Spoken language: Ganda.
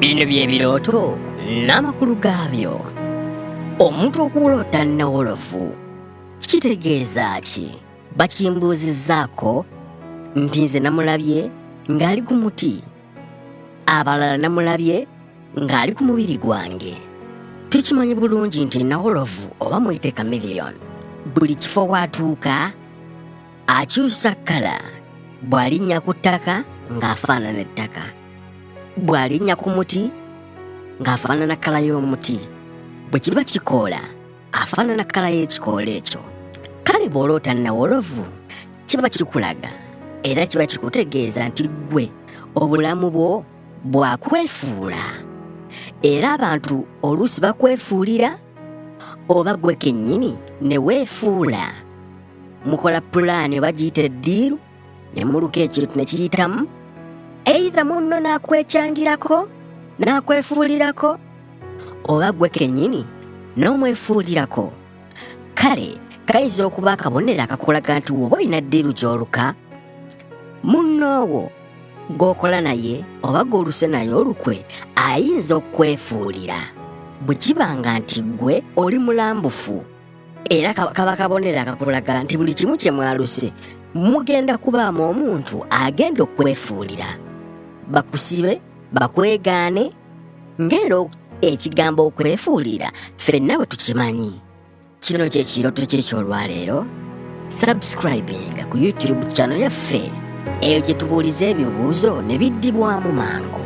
bino bye birooto n'amakulu gaabyo omuntu okuwolota nnawolovu kitegeeza ki bakimbuuzizzaako nti nze namulabye ng'ali ku muti abalala namulabye ng'ali ku mubiri gwange tukimanyi bulungi nti nawolovu oba muyite kamiliyoni buli kifo waatuuka akyusa kkala bw'alinnya ku ttaka ng'afaanana ettaka bw'alinnya ku muti ng'afaanana kkala y'omuti bwe kiba kikoola afaanana kkala y'ekikoola ekyo kale bw'oloota nawolovu kiba kikulaga era kiba kikutegeeza nti ggwe obulamu bwo bwakwefuula era abantu oluusi bakwefuulira oba gwe kennyini ne weefuula mukola pulaani oba giyita eddiiru ne muluka ekintu ne kiyitamu eitha munno n'akwekyangirako n'akwefuulirako oba gwe kennyini n'omwefuulirako kale kayinza okuba akabonero akakulaga nti woba olina ddiiru gy'oluka munnoowo gw'okola naye oba gw'oluse naye olukwe ayinza okukwefuulira bwe kiba nga nti ggwe oli mulambufu era kaba kabonero akakulaga nti buli kimu kye mwaluse mugenda kubaamu omuntu agenda okwefuulira bakusibe bakwegaane ng'era ekigambo okwefuulira fenna bwe tukimanyi kino kyekiroto kyekyolwaleero subscribinga ku youtube chano yaffe eyo gye tubuuliza ebibuuzo ne biddibwamu mangu